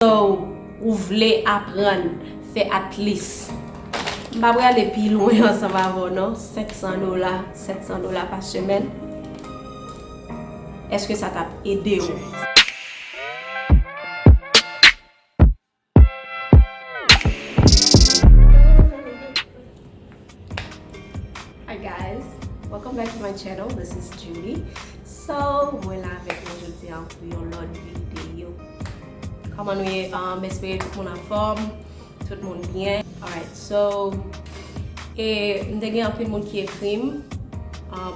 So ou vle aprann fè atlis. M pa prale pi lwen ansanm avè w non 500 dola 700 dola pa semèn eske sa tap ede w. Hi guys, welcome back to my channel, this is Julie So, mwen la avèk nou jodi an pou yon lòt videyo Kòman nou ye, m espere tout moun anfòm, tout moun byen Alright, so, e m te gen anpil moun ki ekri m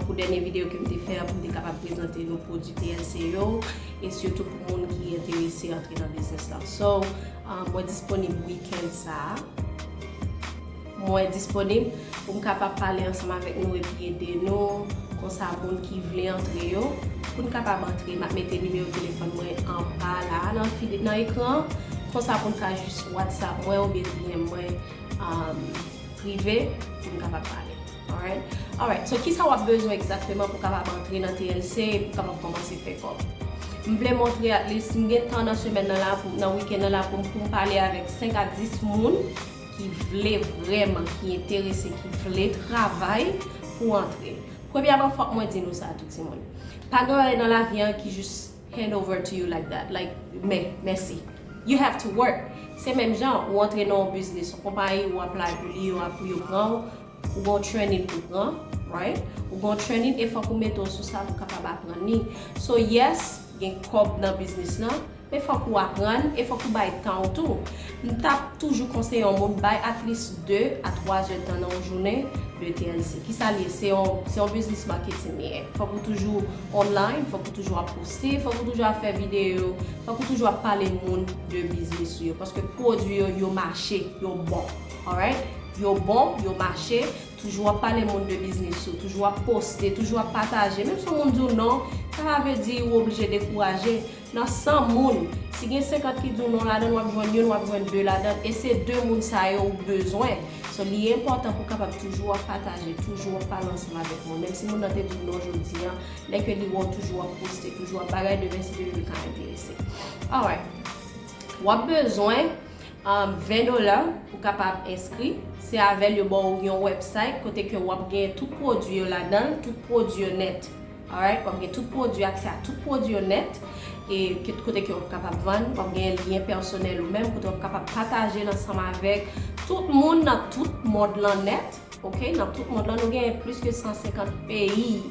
pou dènye videyo ke m te fè pou m te kapab prezante nou pwodui TLC yo e sitou pou moun ki enterese antre nan biznis la So, mwen disponib weekend sa a Mwen disponib pou m kapab pale ansanm avèk nou epi ede nou, konsa moun ki vle antre yo, pou n kapab antre. M ap mete nimewo telefòn mwen anba la a nan ekran an, konsa pou n ka jis whatsapp mwen oubyen dm mwen prive pou n kapab pale. Alright? Alright, so kisa w ap bezwen egzakteman pou w kapab antre nan TLC e pou w kapab kòmanse fè kòb? M vle montre at least m gen tan nan semèn nan la, nan weekend nan la pou m pale avèk 5 a 10 moun ki vle vrèman, ki enterese, ki vle travay pou antre. Premyèman fòk mwen di nou sa tou timoun. Pa gen yon bagay nan lavi an ki jis hand over to you like that, like men, mèsi. You have to work. Se menm jan ou antre nan yon biznis, yon konpayi ou aplay pou li, yo pran ou, Ou gen yon training pou pran right ou gen yon training e fòk ou mete w sou sa pou kapab aprann li so yes gen kòb nan biznis lan men fòk ou aprann e fòk ou bay tan w tou m tap toujou konseye yon moun bay at least 2 a 3 zè tan nan yon jounen de TLC kisa l ye se yon se yon biznis marketing li ye fòk ou toujou online fòk ou toujou ap poste fòk ou toujou ap fè videyo fòk ou toujou ap pale moun de biznis ou yo paske pwodwi yo yo mache yo bon. Alright yo bon yo mache toujou ap pale moun de biznis ou toujou ap poste toujou ap pataje menm si yon moun di w non sa pa vle di ou oblije dekouraje nan 100 moun si gen 50 ki di w non ladan l wap jwenn youn wap jwenn 2 ladan l e se 2 moun sa yo ou bezwen so li enpòtan pou kapab toujou ap pataje toujou ap pale ansanm avèk moun menm si moun nan te di w non jodi an lè ke li wè w toujou ap poste toujou ap bagay demen se li li ka enterese alright wap bezwen. 20 dola pou kapab enskri, se avèl yo baw yon website kote ke wap gen tout pwodwi yo ladanl, tout pwodwi yo nèt alright wap gen tout pwodwi aksè a tout pwodwi yo nèt e kote ke wap kapab vann, wap gen lyen pèsonèl ou menm kote wap kapab patajel ansanm avèk tout moun nan tout mond lan nèt ok nan tout mond lan nou gen plis ke 150 peyi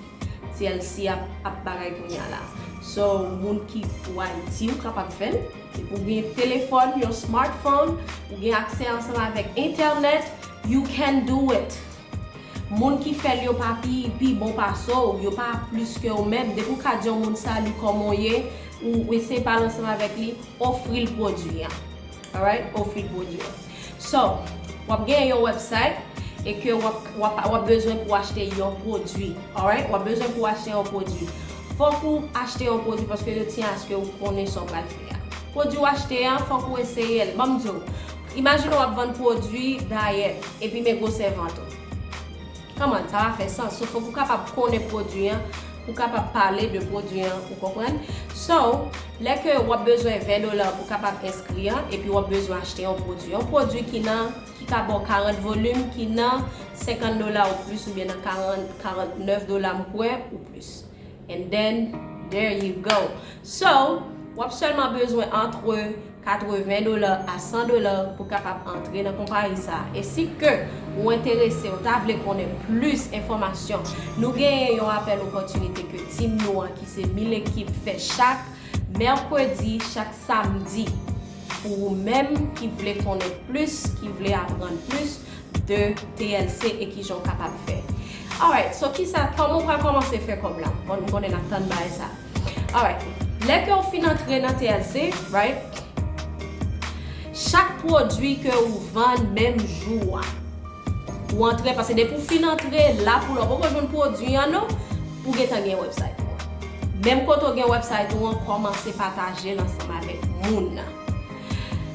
tlc ap bagay kounya la so moun ki pou ayiti ou kapab fèl. Depi w gen telefòn, yon smartphone, ou gen aksè ansanm avèk entènèt, you can do it! Moun ki fè l yo pa pi pi bon pase w, yo pa plis ke w menm, depi w ka di yon moun sali kòman w ye, ou eseye pale ansanm avèk li, ofri l pwodui an. Alright? Ofri l pwodui an. So, w ap genyen yon website e ke w ap bezwen pou achte yon pwodwi. Alright? W ap bezwen pou achte yon pwodwi. Fok ou achte yon pwodwi paske yo tiyen aske ou konnen sa w pral fè a. Pwodwi w achte an, fok ou eseye l. Banm di w, imajine w ap vann pwodwi dayèt epi men gwosè vant ou. Kòman sa a fè sans? So fòk ou kapab konnen pwodwi an pou w kapab pale de pwodwi an, ou konprann? So, lè ke w ap bezwen 20 dola pou w kapab enskri an, epi w ap bezwen achte yon pwodwi. Yon pwodwi ki nan, ki ka ba w 40 volim, ki nan 50 dola ou plis oubyen nan 40, 49 dola m kwè, ou plis. and then there you go so wap sèlman bezwen antre 80 dola a 100 dola pou kapab antre nan konpayi sa e si ke ou enterese ou ta vle konnen plis enfòmasyon nou genyen yon apèl opòtinite ke team nou an ki se 1000 ekip fè chak mèkredi chak samdi pou ou menm ki vle konnen plis ki vle aprann plis de TLC e kijan w kapab fè. Alright so kisa kòman w pral kòmanse fè kòb la bon m konnen nap tann bagay sa alright lè ke w fin antre nan TLC right chak pwodwi ke w vann menm jou a ou antre paske depi w fin antre la pou la w poko jwenn pwodwi an non ou gentan gen website ou an menm kote w gen website ou an kòmanse patajel ansanm avèk moun.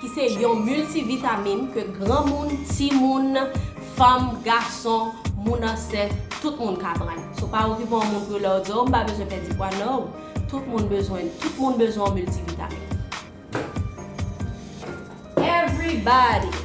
ki se yon miltivitamin ke granmoun, timoun, fanm, gason, moun ansent, tout moun ka pran. So pa okipe yon moun pou yo lè yo di oh m pa bezwen pèdi pwa no, tout moun bezwen tout moun bezwen yon miltivitamin. Everybody!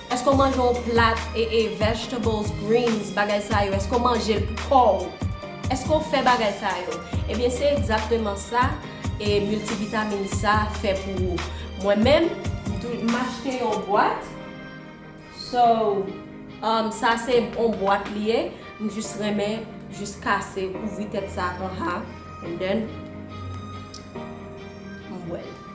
Eske w manje yon plat ee vegetables, greens, bagay sa yo, eske w manje l pou kò ou? Eske w fè bagay sa yo? Ebyen se egzakteman sa e miltivitamin sa fè pou ou. Mwen menm, m achte yon bwat, so sa se yon bwat li ye, m jis renmen jis kase ouvri tèt sa anha and then m bwè l.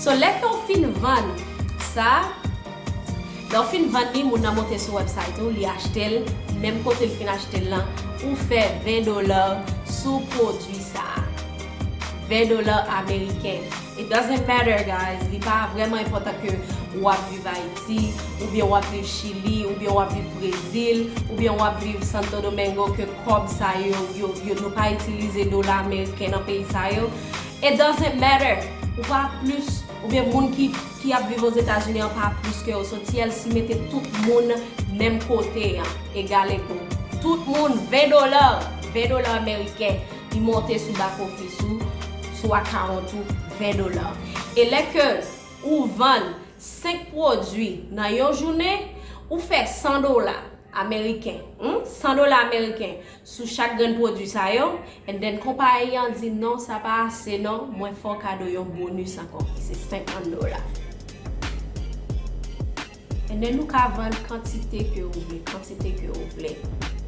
So lè ke w fin vann sa, lè w fin vann li, moun nan monte sou website ou, li achte l, menm kote l fin achte l lan, ou fè 20 dolar sou pwodwi sa. 20 dolar ameriken. It doesn't matter guys, li pa vrèman enpòtan ke ou ap viv Ayiti, oubyen ou ap viv Chili, oubyen ou ap viv Brezil, oubyen ou ap viv Santo Domingo ke kòb sa yo, yo, yo, nou pa itilize dola ameriken nan peyi sa yo. It doesn't matter ou pa plis oubyen moun ki ki ap viv ozetazini an pa plis ke yo so TLC mete tout moun menm kote an egal ego tout moun 20 dola 20 dola ameriken li monte sou back office ou sou account ou 20 dola e lè ke ou vann 5 pwodwi nan yon jounen ou fè 100 dola ameriken humm 100 dola ameriken sou chak grenn pwodwi sa yo and then konpayi an di non sa pa ase non mwen fè w kado yon bonus ankò ki se 50 dola and then ou ka vann kantite ke ou vle kantite ke ou vle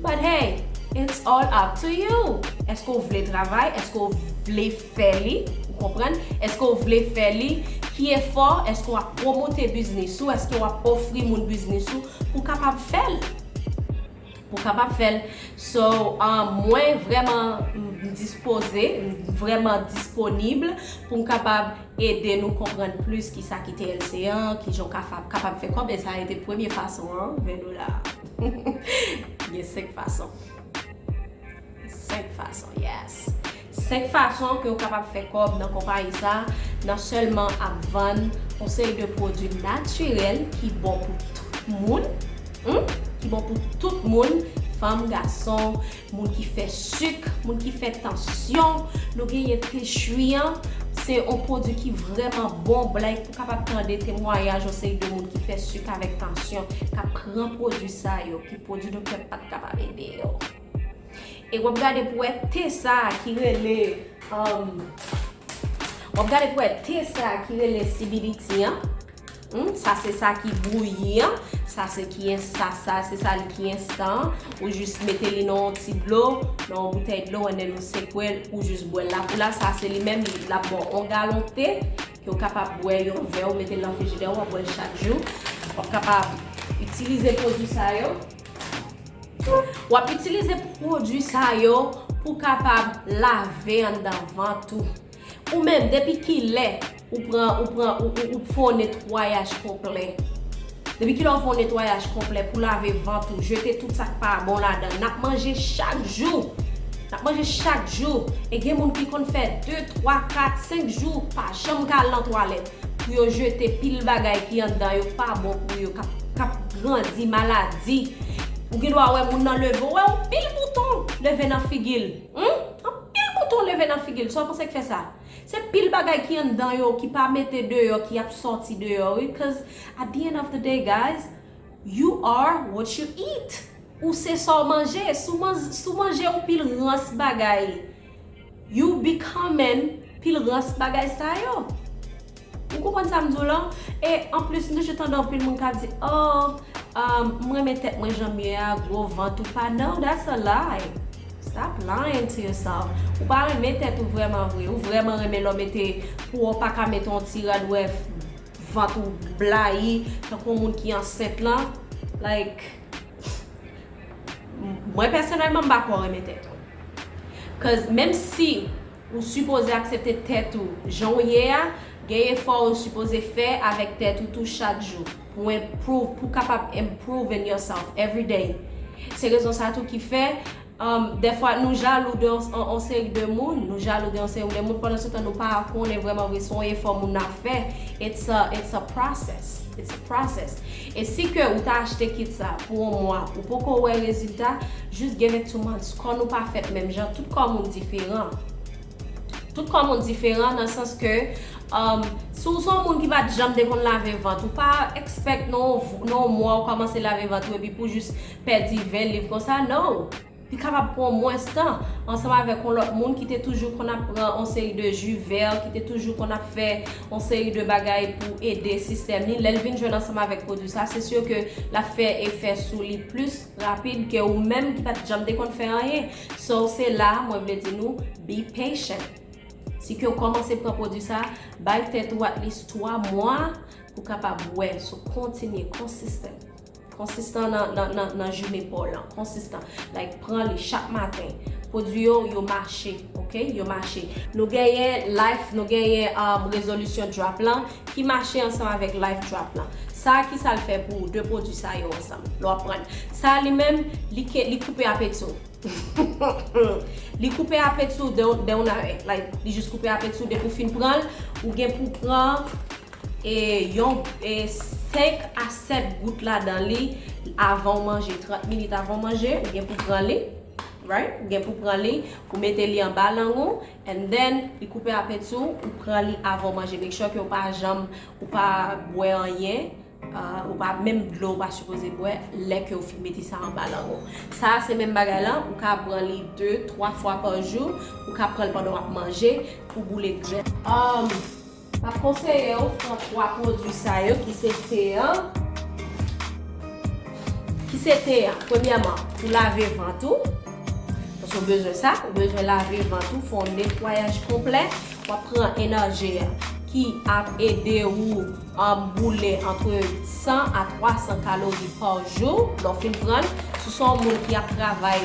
but hey it's all up to you eske w vle travay eske w vle fè li ou konprann eske w vle fè li ki efò eske w ap pwomote biznis ou eske w ap ofri moun biznis ou pou kapab fè l. Ou kapab fèl so mwen vreman dispoze vreman disponible poum kapab ede nou konprann plis kisa ki TLC an kijan ou kapab fè kòb e sa rete premye fason an 20 dola gen 5 fason 5 fason yes. 5 fason ke ou kapab fè kòb nan konpayi sa nan sèlman ap vann on seri de pwodwi natirèl ki bon pou tout moun humm ki bon pou tout moun fanm gason moun ki fè suk moun ki fè tansyon nou genyen te chri an se on pwodwi ki vrèman bon bly pou kapab tande temwayaj on seri de moun ki fè suk avèk tansyon kap pran pwodwi sa yo ki pwodwi doktè pat kapab ede yo. E wap gade pou wè te sa ki rele wap gade pou wè te sa ki rele sibiditi an sa se sa ki bouyi an sa se ki en sa sa se sa li ki enstan ou jis mete li nan yon ti dlo nan yon boutèy dlo an nen ou sekwe l ou jis bwè l la pou la sa se li menm lap ba w yon galon te ke w kapab bwè yon vè ou mete l nan frijidè w wap bwè l chak jou wap kapab itilize pwodwi sa yo. W ap itilize pwodui sa yo pou w kapab lave anndan vant ou. Ou menm, depi ki lè ou pran, ou pran, ou fè yon netwayaj konplè? Depi ki lè ou fè yon netwayaj konplè pou w lave vant ou, jete tout sa k pa bon ladan l? N ap manje chak jou! N ap manje chak jou! E gen moun ki konn fè de, twa, kat, senk jou pa janm ka al nan twalèt. pou yo jete pil bagay ki andan yo pa bon pou yo kap grandi maladi ou gen dwa wè moun nan leve ou wè yon pil bouton leve nan figil humm yon pil bouton leve nan figil sa ou panse ki fè sa se pil bagay ki andan yo ki pa mete deyò ki ap sòti deyò wi cuz at the end of the day guys you are what you eat ou se sa ou manje si ou manje yon pil rans bagay. Yow bigcomen pil rans bagay sa yo ou konprann sa m di w lan e anplis m toujou tande anpil moun kap di oh m renmen tèt mwen janm ye a gwo vant ou pa no that's a lie stop lying to yourself ou pa renmen tèt ou vrèman vre ou vrèman renmen lè w mete pou w pa ka mete yon ti rad ou wè vant ou blayi tankou yon moun ki ansent lan like mwen pèsonèlman m pa kwè w renmen tèt ou. Cause menm si ou sipoze aksepte tèt ou jan ou ye a, gen efò ou sipoze fè avèk tèt ou tou chak jou pou improve, pou kapab improving yourself every day. Se rezon sa tou ki fè dèfwa nou jalou de yon seri de moun, nou jalou de yon seri de moun pandansetan nou pa konnen vrèman vre se yon efò moun nan ap fè, it's a process, it's a process. E si ke ou ta achte kit sa pou on mwa ou poko wè rezilta, just give it two months. Kò nou pa fèt menm jan, tout kò moun diferan. Tout kò moun diferan nan sans ke umm si w son moun ki pat janm te konn lave vant ou pa expect nan on mwa ou kòmanse lave vant ou epi pou w just pèdi 20 liv konsa, no! Li kapab pran mwens tan, ansanm avèk yon lòt moun ki te toujou konn ap pran yon seri de ji vè, ki te toujou konn ap fè yon seri de bagay pou ede sistèm li, lè l vin jwenn ansanm avèk pwodui sa, se sur ke l ap fè efè sou li plis rapid ke ou menm ki pa t janm te konn fè anyen. So, se la a mwen vle di nou, be patient. Si ke w kòmanse pran pwodui sa, bay tèt ou at least 3 mwa pou kapab wè. So, kontinye, consistent. Konsistan nan jounen paw lan. Konsistan. Like pran li chak maten. Pwodwi yo, yo mache. Ok? Yo mache. Nou genyen life, nou genyen rezolisyon drop lan ki mache ansanm avèk life drop lan. Sa a kisa l fè pou ou? 2 pwodwi sa yo ansanm. Lè w ap pran. Sa a li menm, li ke, li koupe apeti w. Li koupe apeti w de una vez. Like, li jis koupe apeti w depi w fin pran l, ou gen pou pran. E yon e 5 a 7 gout ladan li avan w manje. 30 minit avan w manje, ou gen pou pran li. Right? Ou gen pou pran li. Ou mete li anba lang ou. And then, li koupe apeti w, ou pran li avan w manje. Make sure ke w pa janm, ou pa bwè anyen. Ou pa, menm dlo ou pa sipoze bwè lè ke ou fin mete sa anba lang ou. Sa a se menm bagay lan, ou ka pran li 2, 3 fwa pa jou. Ou ka pran l pandan w ap manje pou boule grès. M ap konseye w pran 3 pwodui sa yo ki se te an, ki se te an, premyèman pou lave vant ou, paske w bezwen sa, ou bezwen lave vant ou, fè yon netwayaj konplè, w ap pran Energy a ki ap ede ou boule antre 100 a 300 kalori pa jou lè w fin pran l, si w se yon moun ki ap travay.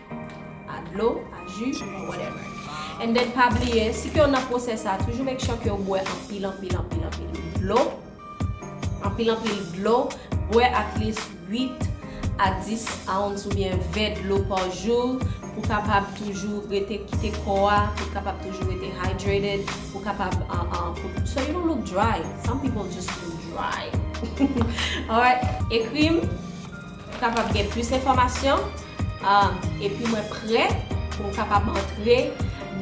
a dlo, a ju, or whatever. And then pa bliye, si kew nan process sa, toujou make sure kew bwè anpil anpil anpil anpil dlo, anpil anpil dlo, bwè at least 8 a 10 ounce ou byen 20 dlo par jou pou kapab toujou rete kite kò a, pou kapab toujou rete hydrated, pou kapab so you don't look dry, some people just look dry. Alright, ekrim Ou kapab gen plis enfòmasyon epi mwen prè pou m kapab antre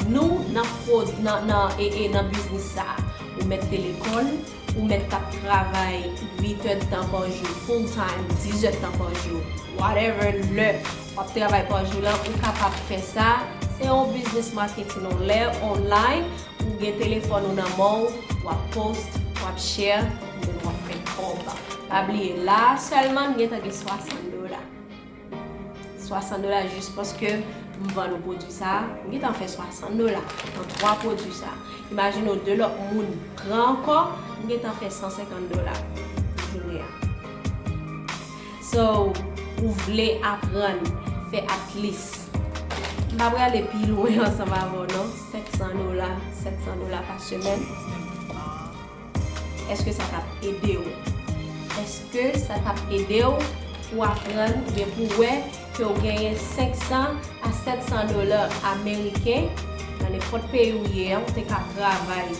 nou nan biznis sa a. Ou mèt te lekòl, ou mèt t ap travay 8 è tan pa jou full time, 10 è tan pa jou, whatever lè w ap travay pa jou la, ou kapab fè sa. Se yon biznis maketin anlè, online. Ou gen telefòn ou nan men w, wap post, wap share, ou menm wap fè kòb. Pa bliye la a sèlman m gentan gen 60 dola. 60 dola jis paske m vann ou pwodwi sa a, m gentan fè 60 dola nan 3 pwodwi sa a. Imajine w 2 lòt moun pran ankò, m gentan fè 150 dola nan jounen an. So ou vle aprann fè atlis. M pa prale pi lwen ansanm avè w non. 500 dola, 700 dola pa semèn. Eske sa kap ede w? Eske sa kap ede w pou aprann oubyen pou w wè ke w genyen 500 a 700 dola ameriken nan nenpòt peyi ou ye an ou te ka travay.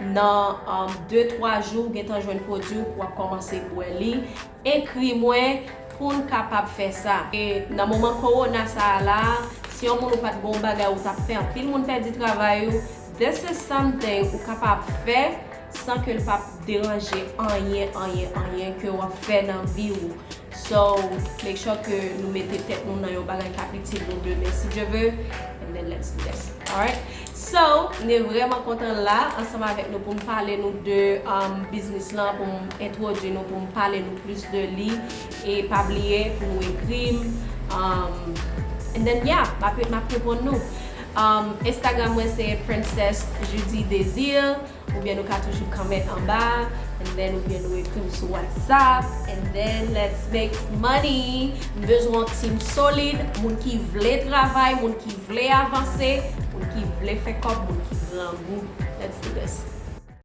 Nan de twa jou ou gentan jwenn pwodwi w pou wap kòmanse bwè li, ekri mwen poun kapab fè sa. E nan moman kowona sa a la, si yon moun ou pat gen yon bagay ou tap fè anpil moun pèdi travay yo, this is something ou kapab fè san ke l pap deranje anyen anyen anyen ke wap fè nan vi w. So make sure ke nou mete tèt nou nan yon bagay kap itil nou demen si Dye ve and then let's do this alright So mne vreman kontan la ansanm avèk nou poum pale nou de biznis lan poum entwodwi nou poum pale nou plis de li e pa bliye pou nou ekrim and then yeah map reponn nou Instagram mwen se princess judidesir. Oubyen nou ka toujou comment anba a and then oubyen nou ekri m sou whatsapp and then let's make money m bezwen yon team solid moun ki vle travay moun ki vle avanse moun ki vle fè kòb moun ki grangou let's do this.